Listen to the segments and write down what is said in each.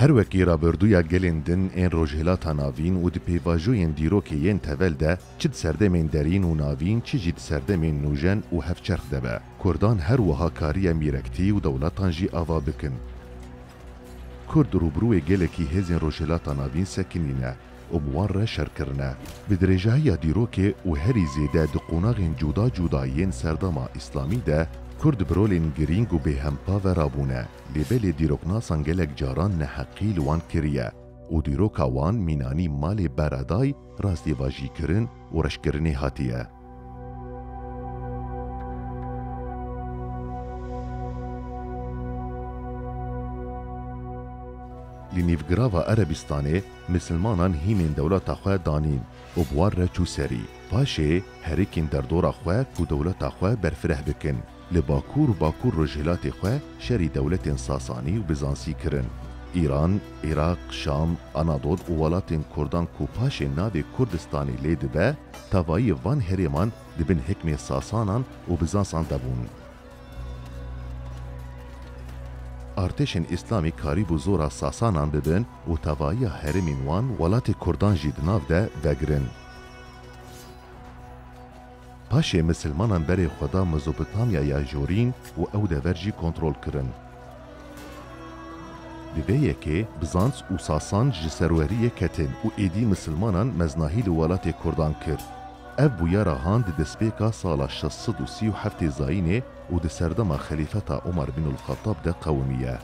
Her wekî raberduya gelên din ên Rojhilata Navîn û di pêvajoyên dîrokê yên tevel de çi di serdemên derîn û navîn çi jî di serdemên nûjen û hevçerx de be, kurdan her wiha kariye mîrektî û dewletan jî ava bikin. Kurd rûbirûê gelekî hêzên Rojhilata Navîn sekinîne. û bi wan re şer kirine. Bi dirêjahiya dîrokê û herî zêde di qonaxên cuda cuda yên serdama îslamî de Kurd bi rolên girîng û bêhempa ve re bûne lê belê dîroknasan gelek caran neheqî li wan kiriye û dîroka wan mînanî malê beredayî, rastî vajîkirin û reşkirinê hatiye. Li nîvgirava Erebîstanê misilmanan hînên dewleta xwe danîn û bi wan re çû serî. Paşê herikên derdora xwe ku dewleta xwe berfireh bikin. li Bakur û Bakur Rojhilatê xwe şerî dewletên Sasanî û Bizansî kirin. Îran, Iraq, Şam, Anadol û welatên Kurdan ku paşê navê Kurdistanê lê dibe, tevayî van herêman di bin hikmê Sasanan û Bizansan de bûn. Artêşên Îslamî karîbû zora Sasanan bibin û tevayiya herêmên wan welatê Kurdan jî di nav de vegirin. Paşê misilmanan berê xwe da Mezopotamya ya Jorîn û ew dever jî kontrol kirin. Di vê yekê Bizans û Sasan ji serweriyê ketin û êdî misilmanan meznahî li welatê Kurdan kir. Ev bûya ra han di destpêka sala şeş sed û sî û heftê Zayînê û di serdema xelîfeta Omar bin ul-Xettab de qewimiye.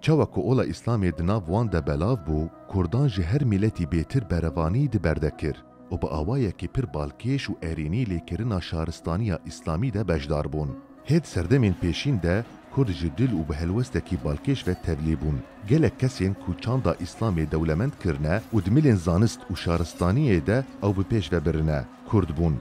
Çawa ku ola Îslamê di nav wan de belav bû, Kurdan ji her mîletî bêtir berevanî di berde kir û bi awayekî pir balkêş û erênî lê kirina şaristaniya Îslamî de beşdar bûn. Hê di serdemên pêşîn de Kurd ji dil û bi helwestekî balkêş ve tevlî bûn. Gelek kesên ku çanda Îslamê dewlemend kirine û di milên zanist û şaristaniyê de ew bi pêş ve birine, Kurd bûn.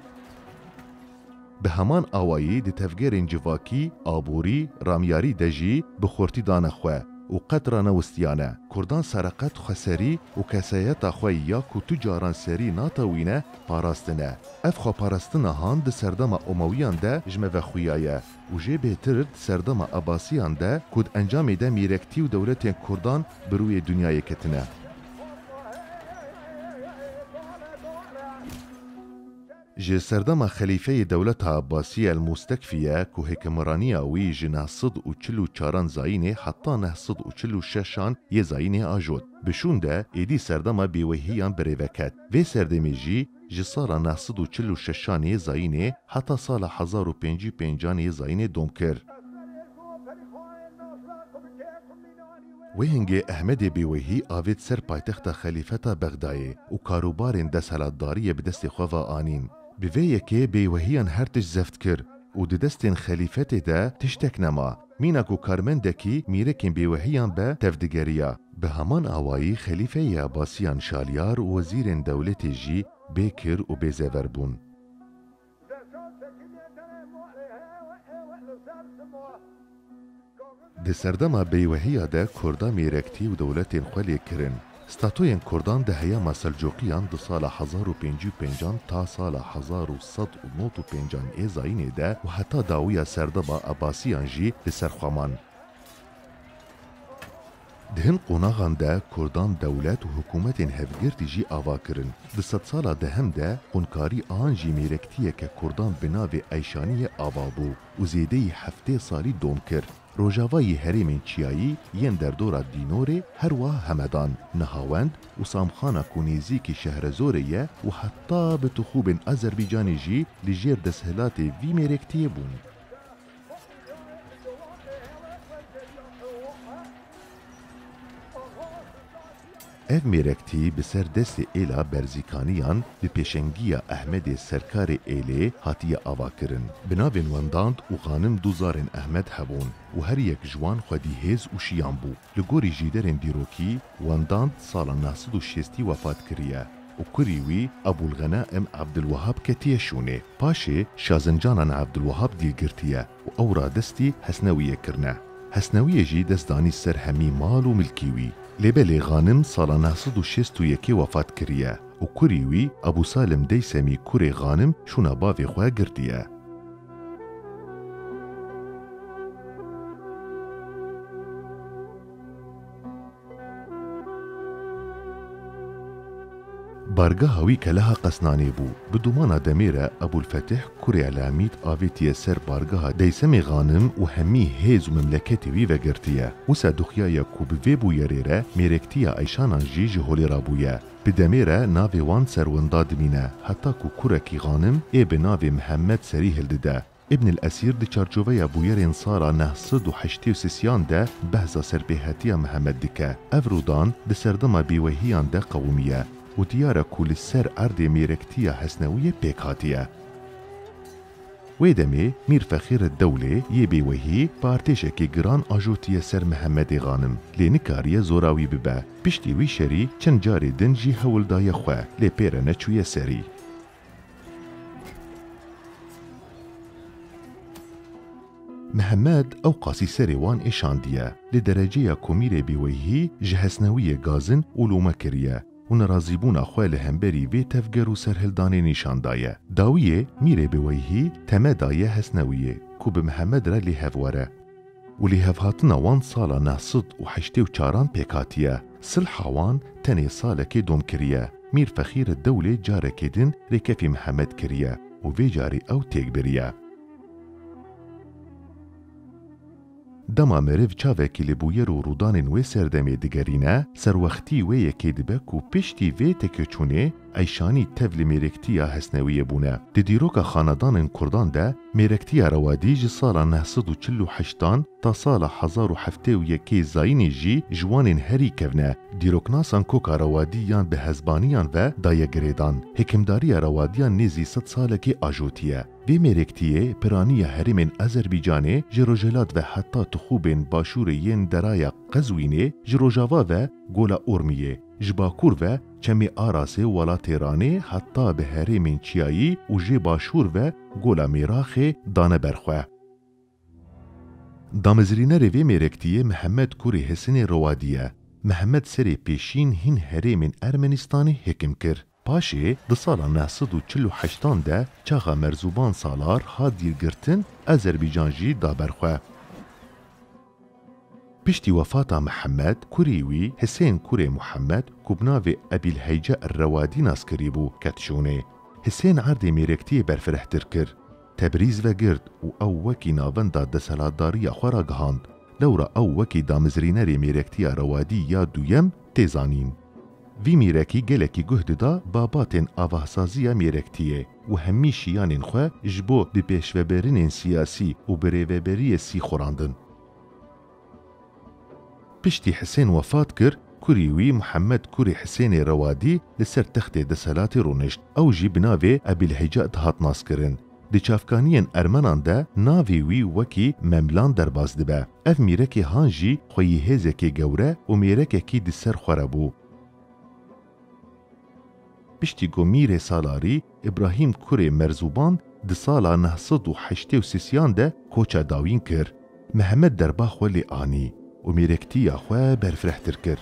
Bi heman awayî di tevgerên civakî, aborî, ramyarî de jî bi xurtî dane xwe û qet ranewistiyane. Kurdan sereqet xweserî û kesayeta xwe ya ku tu caran serî natewîne, parastine. Ev xweparastina han di serdema Omawiyan de ji me ve xuya ye û jê bêtir di serdema Abasiyan de ku di encamê de mîrektî û dewletên Kurdan bi rûyê dinyayê ketine. Ji serdema xelîfeyê dewleta Abasî El-Mustekfî ye ku hikimraniya wî ji neh sed û çil û çaran Zayînê heta neh sed û çil û şeşan yê Zayînê ajot. Bi şûn de êdî serdema bêweyhiyan birêve ket. Vê serdemê jî, Ji sala neh sed û çil û şeşan ê zayînê heta sala hezar û pêncî û pêncan ê zayînê dom kir. Wê hingê Ehmedê Bêweyhî avêt ser paytexta xelîfeta Bexdayê û karûbarên deshelatdariyê bi destê xwe ve anîn. Bi vê yekê Bêweyhiyan her tişt zeft kir û di destên xelîfetê de tiştek nema. Mîna ku karmendekî mîrekên bêwehiyan be tevdigeriya, bi heman awayî xelîfeyê Ebasiyan Şaliyar û wezîrên dewletê jî bê kir û bê zever bûn. Di serdema bêwehiya de Kurda mîrektî û dewletên xwe lê kirin. Statoyên Kurdan di heyama Selcuqiyan di sala hezar û pêncî û pêncan ta sala hezar û sed û nod û pêncan ê zayînê de û heta dawiya serdeba Ebasiyan jî li ser xwe man. Di hin qonaxan de Kurdan dewlet û hikûmetên hevgirtî jî ava kirin. Di sedsala dehem de qûnkarî an jî mêrektiyeke Kurdan bi navê Eyşaniyê ava bû û zêdeyî heftê salî dom kir. Rojava yê herêmên çiyayî yên derdora Dînorê her wiha Hemedan, Nihawend û Samxana ku nêzîkî Şehrezorê ye û heta bi tixûbên Azerbaycanê jî li jêr desthilatê vî mêrektiyê bûn. Ev mêrektî bi ser destê Êla Berzîkaniyan bi pêşengiya Ehmedê Serkarê Êlê hatiye avakirin. Bi navên Wendand û Xanim du zarên Ehmed hebûn û her yek ji wan xwedî hêz û şiyan bû. Li gorî jîderên dîrokî Wendand sala neh sed û şêstî wefat kiriye û kurî wî Ebûlxenaim Ebdulwehab ketiye şûnê. Paşê Şazincanan Ebdulwehab dîl girtiye. û ew radestî Hesnewiyê kirine. Hesnewiyê jî dest danî ser hemî mal û milkî wî. Lê belê Xanim sala neh sed û şêst û yekê wefat kiriye û kurî wî Ebû Salim Deysemî kurê Xanim şûna bavê xwe girtiye. Bargeha wî keleha Qesnanê bû. Bi domana demê re Ebûlfetîh kurê Elamît avêtiye ser bargeha Deysemê Xanim û hemî hêz û memleketê wî vegirtiye. Wisa duxiyaye ku bi vê bûyerê re mêrektiya Eyşanan jî ji holê re bûye. Di demê re navê wan ser winda dimîne heta ku kurekî Xanim ê bi navê Mihemed serî hildide. Îbn El Esîr di çarçoveya bûyerên sara neh sed û heştê û sisiyan de behsa serpêhatiya Mihemed dike. Ev rûdan di serdema bêwehiyan de qewimiye û diyar e ku li ser erdê mêrektiya Hesnewiyê pêk hatiye. Wê demê Mîr Fexîr El Dewlê yê bêwehî bi artêşekê giran ajotiye ser Mihemedê Xanim lê nikariye zora wî bibe. Piştî wî şerî çend carê din jî hewl daye xwe lê pê re neçûye serî. Mihemed ewqasî serê wan êşandiye, lê dereceya komîrê bêweyhî ji hesnewiyê gazin û lome kiriye û nerazîbûna xwe li hemberî vê tevger û serhildanê nîşan daye. Dawiyê mîrê bêweyhî teme daye hesnewiyê ku bi Mihemed re lê hev were. û lêhevhatina wan sala neh sed û heştê û çaran pêk hatiye. Silha wan tenê salekê dom kiriye. Mîr Fexîre Dewlê carekê din rêkefî Mihemed kiriye û vê carî ew têk biriye. Dema meriv çavekî li bûyer û rûdanên wê serdemê digerîne, serwextî wê yekê dibe ku piştî vê tekeçûnê, Eyşanî tevlî mêrektiya Hesnewiyê bûne. Di dîroka xanedanên Kurdan de mêrektiya Rewadî ji sala neh sed û çil û heştan ta sala hezar û heftê û yekê zayînê jî ji wanên herî kevne. Dîroknasan koka Rewadî yan bi hezbaniyan ve daye girêdan. Hikimdariya Rewadiyan nêzî sed salekê ajotiye. Vê mêrektiyê piraniya herêmên Azerbîcanê ji rojhilat ve heta tixûbên başûrê yên deraya Qezwînê, ji rojava ve Gola Urmiyê, Ji bakur ve çemê Arasê wala Têranê heta bi herêmên çiyayî û jê başûr ve gola Mêraxê dane ber xwe. Damezrînerê vê mêrektiyê Mihemed kurê Hisinê Rowadî ye. Mihemed serê pêşîn hîn herêmên Ermenîstanê hêkim kir. Paşê di sala neh sed û çil û heşt an de çaxa Merzuban Salar hat dîrgirtin, Azerbaycan jî da ber xwe. Piştî wefata Mihemed, kurê wî Hisên kurê Mihemed ku bi navê Ebîlheyce Er-Rewadî nas kirîbû, ket şûnê. Hisên erdê mêrektiyê berfirehtir kir. Tebrîz vegirt û ew wekî navenda deselatdariya xwe ragihand. Lewra ew wekî damezrînerê mêrektiya Rewadî ya duyem tê zanîn. Vî mêrekî gelekî guh dida babatên avasaziya mêrektiyê û hemî şiyanên xwe ji bo bi pêşveberinên siyasî û bi rêveberiyê sî xurandin. Piştî Hisên wefat kir, kurî wî Muhemed kurê Hisênê Rewadî li ser textê deselatê rûnişt. Ew jî bi navê Ebîlhecad hat naskirin. Di çavkaniyên Ermenan de navê wî wekî Memlan derbas dibe. Ev mîrekê Han jî xweyî hêzekê gewre û mêrekekî di ser xwe re bû. Piştî ku Mîrê Salarî Îbrahîm Kurê Merzuban di sala neh sed û heştê û sisiyan de koça dawîn kir. Mihemed derba xwe lê anî û mêrektiya xwe berfirehtir kir.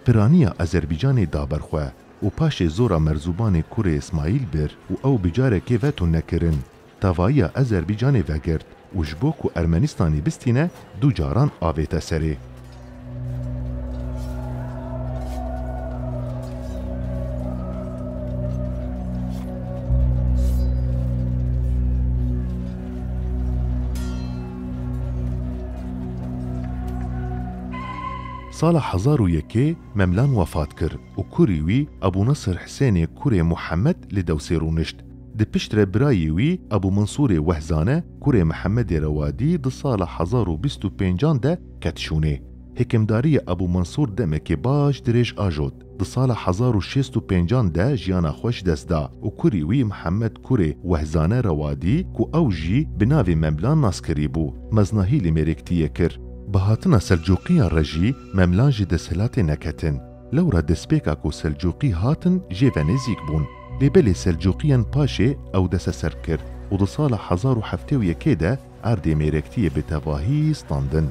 Piraniya Azerbaycanê da ber xwe û paşê zora merzubanê kurê Îsmaîl bir û ew bi carekê veto nekirin. Tavaiya Azerbaycanê vegirt û ji bo ku Ermenistanê bistîne du caran avête serê. Sala hezar û yekê Memlan wefat kir û kurî wî Ebû Nesir Hisênê kurê Muhemed li Dewsê rûnişt. Di pişt re birayê wî Ebû Minsûrê Wehzane kurê Mihemedê Rewadî di sala hezar û bîst û pêncan de Ket şûnê. Hikimdarîya Ebû Mensûr demekê baş dirêj ajot. Di sala hezar û şêst û pêncan de jiyana xwe ji dest da û kurî wî Mihemed kurê Wehzane re wa dî ku ew jî bi navê Memlan nas kirîbû. Meznahî li Mêrêktiyê kir. Bi hatina Selcuqiyan re jî Memlan ji desthilatê neketin. Lewra destpêka ku Selcuqî hatin jê ve nêzîk bûn. Lê belê Selcuqiyan paşê ew desteserb kir û di sala hezar û heftê û yekê de, Erdê mêrektiyê bi tevahî standin.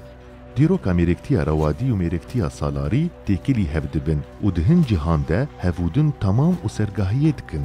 Dîroka mêrektiya rewadî û mêrektiya salarî têkilî hev dibin û di hin cîhan de hevûdin tamam û sergahiyê dikin.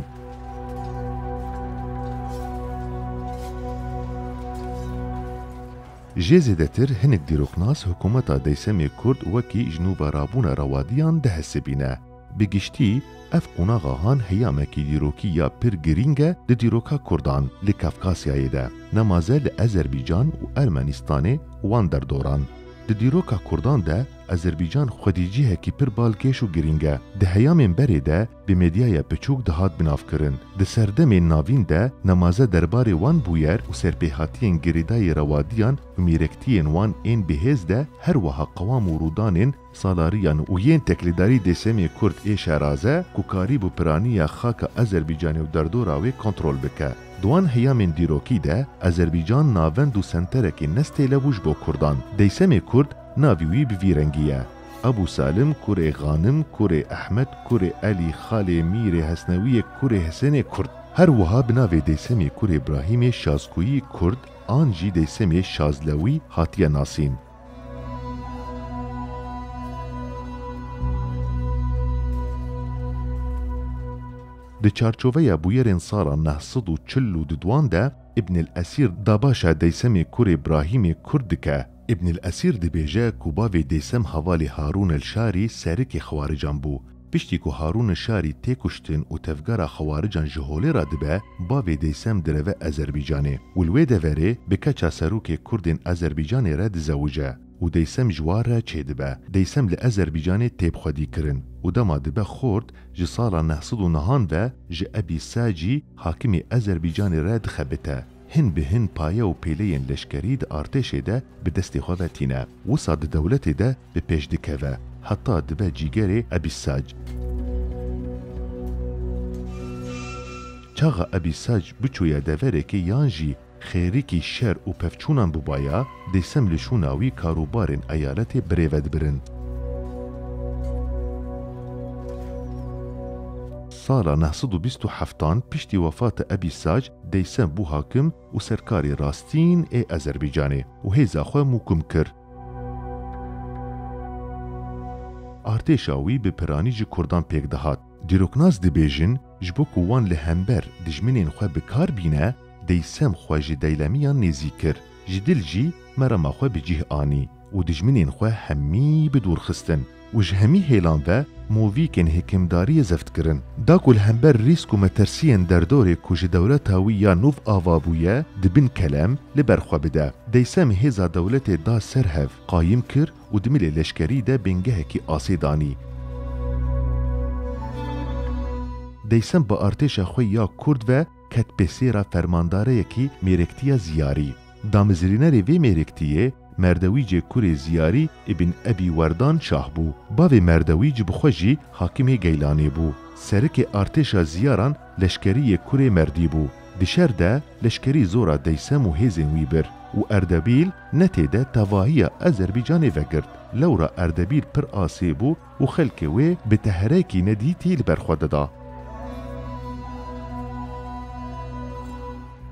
Jê zêdetir hinek dîroknas hikûmeta Deysemê Kurd wekî ji nû ve rabûna rewadiyan dihesibîne. Bi giştî ev qonaxa han heyamekî dîrokî ya pir girîng e di dîroka Kurdan li Kafkasyayê de. Nemaze li Ezerbîcan û Ermenîstanê wan derdoran. Di dîroka Kurdan de Ezerbîcan xwedî cihekî pir balkêş û girîng e. Di heyamên berê de bi medyaya piçûk dihat binavkirin. Di serdemên navîn de nemaze derbarê wan bûyer û serpêhatiyên girêdayî rewadiyan û mîrektiyên wan ên bihêz de her wiha qewam û rûdanên Salariyan û yên teklêdarî dê semê kurd ê Şeraze ku karîbû piranî ya xaka Ezerbîcanê û derdora wê kontrol bike. Di wan heyamên dîrokî de Ezerbîcan navend û senterekî nestêle bû ji bo kurdan. Dey semê kurd navî wî bi vî rengî ye. Ebû Salim, kurê Xanim, kurê Ehmed, kurê Elî, xalê Mîrê Hesnewiyê, kurê Hisênê kurd. Her wiha bi navê dey semê kurê Brahîmê Şazkûyî kurd an jî dey semê Şazlewî hatiye nasîn. Di çarçoveya bûyerên sala neh sed û çil û dudwan de Îbnil Esîr dabaşa Deysemê kurê Brahîmê Kurd dike. Îbnil Esîr dibêje ku bavê Deysem havalê Harûn el Şarî serikê xewarican bû. Piştî ku Harûn Nişarî tê kuştin û tevgera xewarican ji holê re dibe, bavê Deysem direve Ezerbîcanê û li wê deverê bi keça serokê Kurdên Ezerbîcanê re dizewije û Deysem ji wan re çêdibe. Deysem li Ezerbîcanê tê bixwedîkirin û dema dibe xort ji sala neh sed û nihan ve ji Ebî Sacî, hakimê Ezerbîcanê re dixebite. hin bi hin paye û pêleyên leşkerî di artêşê de bi destê xwe ve tîne, wisa di dewletê de bi pêş dikeve, heta dibe cîgerê Ebî Sac. Çaxa Ebî Sac biçûye deverekê yan jî xêrikî şer û pevçûnan bûbaya, dêsem li şûna wî karûbarên eyaletê birêve dibirin. Sala neh sed û bîst û heftan piştî wefata Ebî Sac, Dêysen bû hakim û serkarê rastîn ê Ezerbeycanê û hêza xwe mûkim kir. Artêşa wî bi piranî ji kurdan pêk dihat. Dîroknas dibêjin ji bo ku wan li hember dijminên xwe bi kar bîne, Dêysen xwe ji deylemiyan nêzîk kir. Ji dil jî merama xwe bi cîh anî. û dijminên xwe hemî bi dûr xistin û ji hemî hêlan ve movîkên hikimdariyê zeft kirin. Da ku li hember rîsk û metirsiyên derdorê ku ji dewleta wî ya nûv ava bûye di bin kelem li ber xwe bide. Deysem hêza dewletê da ser hev, qayim kir û di milê leşkerî de bingehekî asê danî. Deysem bi artêşa xwe ya kurd ve ket pê sêra fermandareyekî mêrektiya Ziyarî. Damezirînerê vê mêrektiyê, Merdewîcê kurê Ziyarî îbn Ebî Werdan şah bû. Bavê Merdewîc bi xwe jî hakimê Geylanê bû. Serikê artêşa Ziyaran leşkerîyê kurê Merdî bû. Di şer de leşkerî zora Deysem û hêzên wî bir û Erdebîl netê de tevahîya Ezerbîcanê vegirt. Lewra Erdebîl pir asê bû Û xelkê wê bi teherekî nedîtî li ber xwe dida.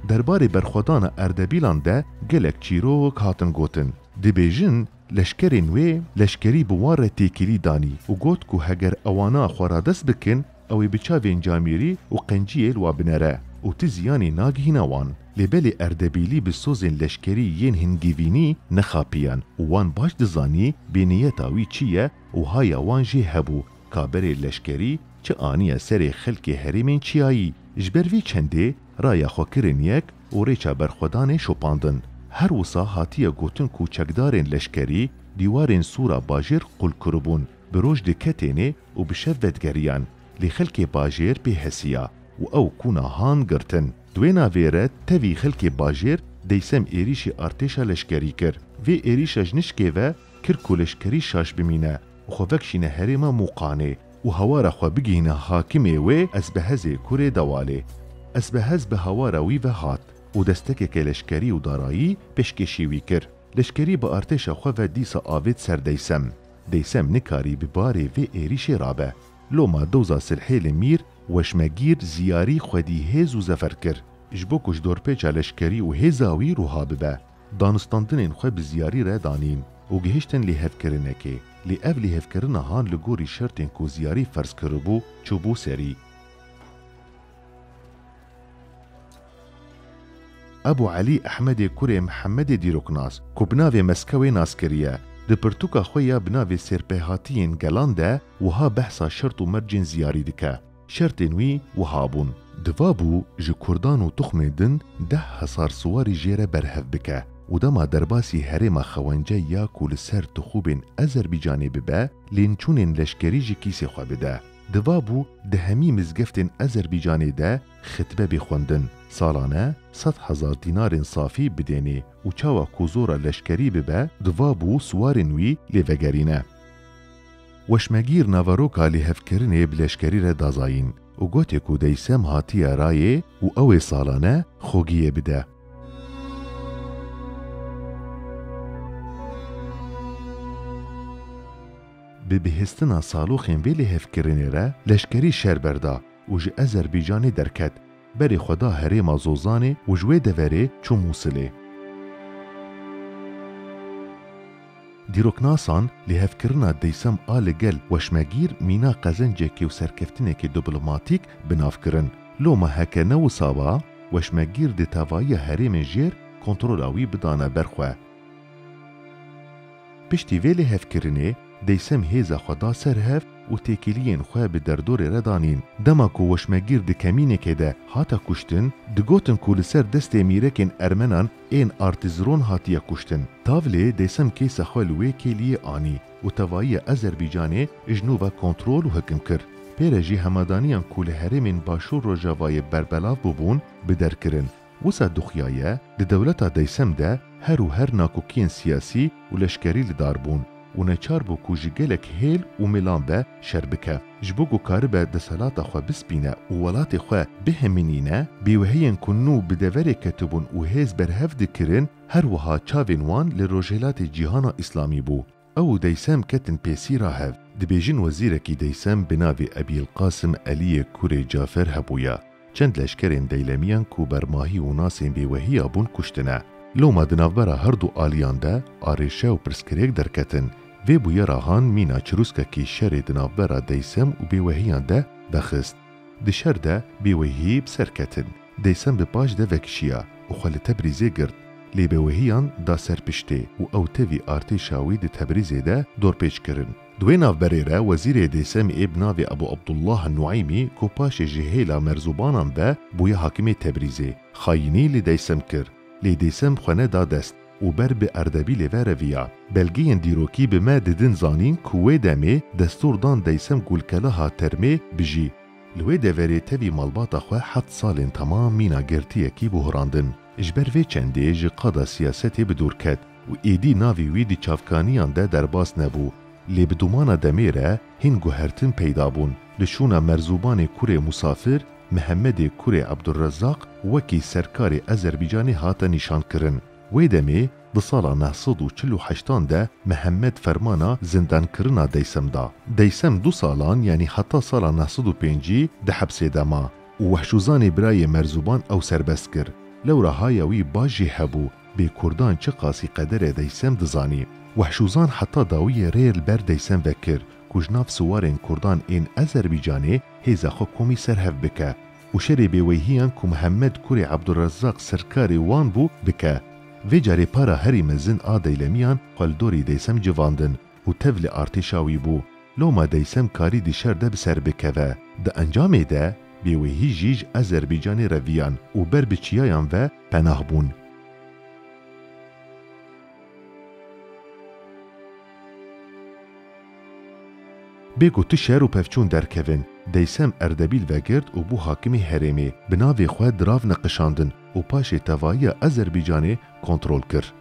Derbarê berxwedana Erdebîlan de gelek çîrok hatin gotin. Dibêjin leşkerên wê leşkerî bi wan re têkilî danî û got ku heger ewana xwe radest bikin, Ew ê bi çavên camêrî û qenciyê li wan binere û ti ziyanê nagihîna wan. Lê belê Erdebîlî bi sozên leşkerî yên hingîvînî nexapiyan û wan baş dizanî bê niyeta wî çi ye û haya wan jê hebû ka berê leşkerî çi aniye serê xelkê herêmên çiyayî. Ji ber vê çendê raya xwe kirin yek û rêça berxwedanê şopandin. Her wisa hatiye gotin ku çekdarên leşkerî dîwarên sûra bajêr qûl kiribûn. Bi roj di ketênê û bi şev vedigerîyan, lê xelkê bajêr pê hesîya û ew kûna han girtin. Di wê navê re tevî xelkê bajêr deysem êrîşî artêşa leşkerî kir. Vê êrîşa ji nişkê ve kir ku leşkerî şaş bimîne û xwe vekşîne herêma Mûqanê û hawara xwe bigihîne hakimê wê Esbehezê kurê Dewalê. Esbehez bi hawara wî ve hat û destekeke leşkerî û darayî pêşkêşî wî kir. Leşkerî bi artêşa xwe ve dîsa avêt ser deysem. Deysem nikarî bi barê vê êrîşê rabe. Loma doza silhê li Mîr, Weşmegîr, Ziyarî, xwedî hêz û zefer kir. Ji bo ku ji dorpêça leşkerî û hêza wî ruha bibe, danûstandinên xwe bi ziyarî re danîn û gihiştin lêhevkirinekê. Lê ev lêhevkirina han li gorî şertên ku Ziyarî ferz kiribû, çûbû serî. Ebû Elî Ehmedê kurê Mihemedê dîroknas ku bi navê Meskewê nas kiriye, di pirtûka xwe ya bi navê Sêrpêhatiyên Gelan de wiha behsa şert û mercên ziyarî dike, Şertên wî wiha bûn. Divabû ji kurdan û tuxmên din deh hesar siwarî jê re berhev bike û dema derbasî herêma Xewence ya ku li ser tixûbên Ezerbîcanê bibe, lênçûnên leşkerî ji kîsê xwe bide. Divabû di hemî mizgeftên Ezerbîcanê de xitbe bê xwendin, salane sed hezar dînarên safî bidênê û çawa ku zora leşkerî bibe divabû siwarên wî lê vegerîne. Weşmegîr naveroka lêhevkirinê bi leşkerî re dazayîn û gotê ku deysem hatiye rayê û ew ê salane xogiyê bide. Bi bihîstina saloxên vê lêhevkirinê re leşkerî şer berda û ji Ezerbaycanê derket, berê xwe da herêma Zozanê û ji wê deverê çû Mûsilê. Dîroknasan, lêhevkirina deysem a li gel weşmegîr mîna qezencekê û serkeftinekê diplomatîk bi nav kirin. Loma heke ne wisa ba, weşmegîr dê tevayiya herêmên jêr kontrola wî bidana ber xwe. Piştî vê lêhevkirinê deysem hêza xwe da ser hev û têkiliyên xwe bi derdorê re danîn. Dema ku weşmegîr di kemînekê de hate kuştin, digotin ku li ser destê mîrekên ermenan ên Artizron hatiye kuştin. Tavlê deysem kêsa xwe li wê kêliyê anî û tevayiya Azerbaycanê ji nû ve kontrol û hikim kir. Pê re jî hemadaniyan ku li herêmên Başûr Rojavayê berbelav bûbûn bi der kirin. Wisa Duxya ye, di dewleta deysem de her û her nakokiyên siyasî û leşkerî li dar bûn û neçar bû ku ji gelek hêl û mêlan be şer bike. Ji bo ku karibe desthilata xwe bispîne û welatê xwe bihemînîne, bêwehiyên ku nû bi deverê ketibûn û hêz berhev dikirin, her wiha çavên wan li rojhilatê cîhana îslamî bû. Ew û Deysem ketin pêsî ra hev. Dibêjin wezîrekî Deysem bi navê Ebîlqasim Eliyê kurê Cafer hebûya. Çend leşkerên deylemiyan ku ber mahî û nasên bêwehiya bûn kuştine. Loma di navbera her du aliyan de arêşe û pirsgirêk derketin. Vê bûyera han mîna çirûskekî şerê di navbera Deysem û bêwehiyan de vexist. Di şer de bêwehî bi ser ketin. Deysem bi paş de vekişiya û xwe li Tebrîzê girt. Lê bêwehiyan da ser piştê û ew tevî artêşa wî di Tebrîzê de dorpêç kirin. Di wê navberê re wezîrê Deysemî ê bi navê Ebû Ebdullah Nueymî ku paşê ji hêla merzobanan ve bûye hakimê Tebrîzê, xayînî li Deysem kir. Lê Dêsem xwe neda dest û ber bi Erdebîlê ve reviya. Belgeyên dîrokî bi me didin zanîn ku wê demê destûr dan Deysem Gulkeleha Termê bijî. Li wê deverê tevî malbata xwe heft salên temam mîna girtiyekî buhrandin. Ji ber vê çendê ji qada siyasetê bi dûr ket û êdî navê wî di çavkaniyan de derbas nebû. Lê bi domana demê re hîn guhertin peyda bûn. Li şûna Merzubanê Kurê Musafir, Mihemedê kurê Abdulrezzaq wekî serkarê Ezerbîcanê hate nîşankirin. Wê demê di sala neh sed û çil û heştan de Mihemed fermana zindankirina Deysem da. Deysem du salan yanî heta sala neh sed û pêncî di hepsê de ma û Wehşûzanê birayê Merzûban ew serbest kir. Lewra haya wî baş jî hebû bê kurdan çiqasî qederê Deysem dizanî. Wehşûzan heta dawiyê rê li ber Deysem vekir ku ji nav siwarên kurdan ên Ezerbîcanê hêza xwe komî serhev bike û şerê bêweyhiyan ku Mihemed kurê Ebdulrezzaq sirkarê wan bû bike. Vê carê para herî mezin a Deylemiyan xwe li dorê Deysem civandin û tevlî artêşa wî bû. Loma Deysem karî di şer de bi ser bikeve. Di encamê de bêweyhî jî ji Ezerbîcanê reviyan û ber bi çiyayan ve penah bûn. Bê ku tu şer û pevçûn derkevin, Deysem Erdebîl vegirt û bû hakimê herêmê. Bi navê xwe dirav neqişandin û paşê tevayiya Azerbaycanê kontrol kir.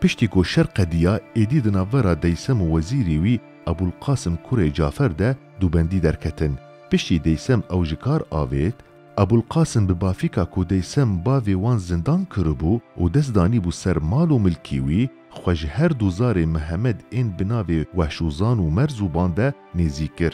Piştî ku şer qediya, êdî di navbera Deysem û wezîrî wî Ebûlqasim kurê Cafer de dûbendî derketin. Piştî Deysem ew ji kar avêt, Ebûlqasim bi bafîka ku deysem bavê wan zindan kiribû û dest danîbû ser mal û milkî wî, xwe ji her du zarê Mihemed ên bi navê Wehşûzan û Merzûban de nêzîk kir.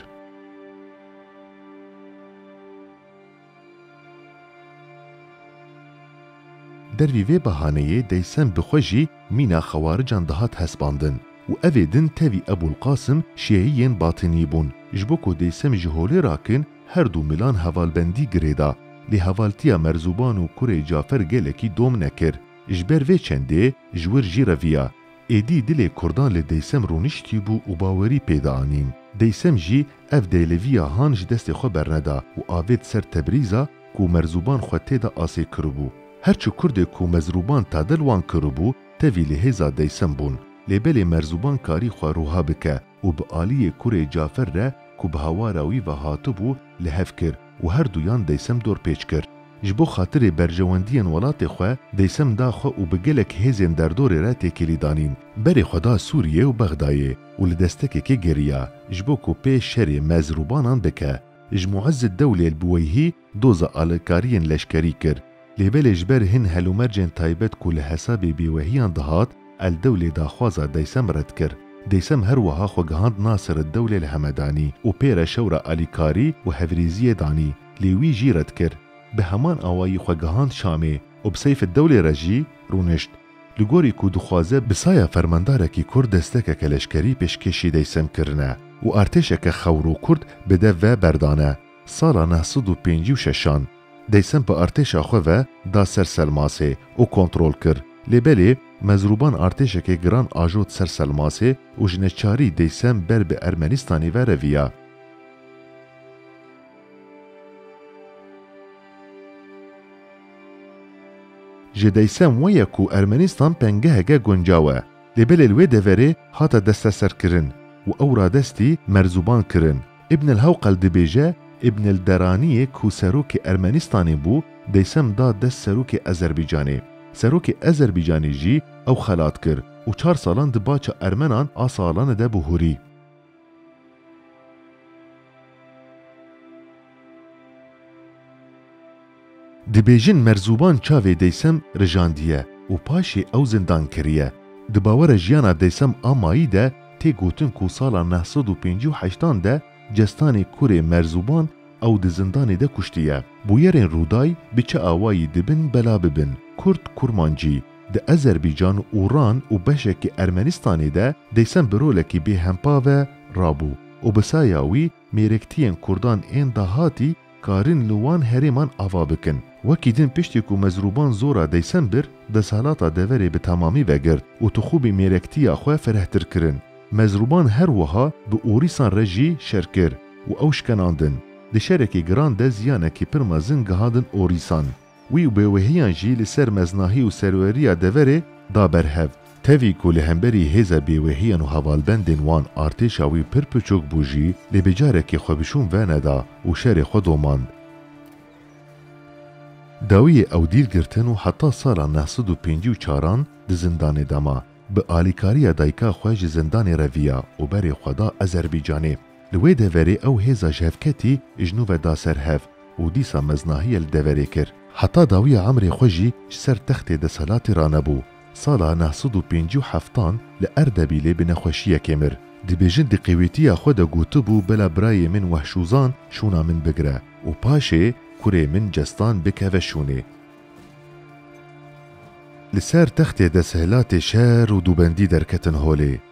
Dervî vê behaneyê deysem bi xwe jî mîna xewarican dihat hespandin û evê din tevî Ebûlqasim şiyeyî yên Batînî bûn. Ji bo ku deysem ji holê rakin, Her du milan hevalbendî girêda, lê hevaltiya Merzuban û kurê Cafer gelekî dom nekir. Ji ber vê çendê ji wir jî reviya. Êdî dilê kurdan li Deysem rûniştîbû û bawerî pê dianîn. Deysem jî ev dêleviya han ji destê xwe berneda û avêt ser Tebrîza ku Merzuban xwe tê de asê kiribû. Her çi kurdê ku Mezruban tadil wan kiribû, tevî li hêza Deysem bûn. Lê belê Merzuban karî xwe ruha bike. û bi aliyê kurê Cafer re ku bi hawara wî ve hatibû li hev kir û her duyan Deysem dorpêç kir. Ji bo xatirê berjewendiyên welatê xwe Deysem da xwe û bi gelek hêzên derdorê re têkilî danîn. Berê xwe da Sûriyê û Bexdayê û li destekekê geriya ji bo ku pê şerê me zirobanan bike. Ji Muezzedewlêl Buweyhî doza alîkariyên leşkerî kir. Lê belê ji ber hin helûmercên taybet ku li hesabê bêwehiyan dihat, Eldewlê daxwaza Deysem red kir. Deysem her wiha xwe gihand Nasireddewlê li Hemedanî û pê re şewra alîkarî û hevrêziyê danî, lê wî jî red kir. Bi heman awayî xwe gihand Şamê û bi Seyfiddewlê re jî rûnişt. Li gorî ku dixwaze bi saya fermandarekî kurd destekeke leşkerî pêşkêşî Deysem kirine û artêşeke xewr û kurd bi dev ve berdane. Sala neh sed û pêncî û şeşan deysem bi artêşa xwe ve da ser Selmasê û kontrol kir. Lê belê Mezrûban artêşekê giran ajot ser Selmasê û ji neçarî deysem ber bi Ermenîstanê ve reviya. Ji deysem weye ku Ermenîstan pengeheke guncaw e. Lê belê li wê deverê hate desteserkirin û ew radestî Merzûban kirin. Ibn el-Hewqel dibêje, Ibn el-Deraniyê ku serokê Ermenîstanê bû, deysem da dest serokê Ezerbycanê. Serokê Ezerbycanê jî ew xelat kir û çar salan di baca Ermenan a Saalane de bû hûrî. Dibêjin Merzuban çavê Deysem rijandiye û paşê ew zindan kiriye. Di bawera jiyana Deysem a mayî de tê gotin ku sala neh sed û pêncî û heştan de cestanê kurê Merzuban ew di zindanê de kuştiye. Bûyerên Rûday bi çi awayî dibin bela bibin, Kurd, Kurmancî, di Ezerbîcan, Uran û beşekî Ermenistanê de Deysem bi rolekî bêhempa ve rabû û bi saya wî mêrektiyên kurdan ên dahatî karin li wan herêman ava bikin. Wekî din piştî ku mezrûban zora deysem bir, desthilata deverê bi temamî vegirt û tixûbî mêrektiya xwe ferehtir kirin. Mezrûban her wiha bi orîsan re jî şer kir û ew şkenandin. Di şerekî giran de ziyanekî pir mezin gihandin orîsan. Wî û bêwehiyan jî li ser meznahî û serweriya deverê da ber hev. Tevî ku li hemberî hêza bêwehiyan û hevalbendên wan artêşa wî pir piçûk bû jî lê bi carekê xwe bi şûn veneda û şerê xwe domand. Dawiyê ew dîl girtin û heta sala neh sed û pêncî û çaran di zindanê de ma. Bi alîkariya dayika xwe ji zindanê re viya û berê xwe da Ezerbîcanê. Li wê deverê ew hêza ji hev ketî ji nû ve da ser hev û dîsa meznahiye li deverê kir. Heta dawiya emrê xwe jî ji ser textê deselatê ranebû. Sala neh sed û pêncî û heftan li Erdebîlê bi nexweşiyekê mir. Dibêjin di qêwîtiya xwe de gotibû bela birayê min Wehşûzan şûna min bigire û paşê kurê min Cestan bikeve şûnê. Li ser textê deselatê şer û dûbendî derketin holê.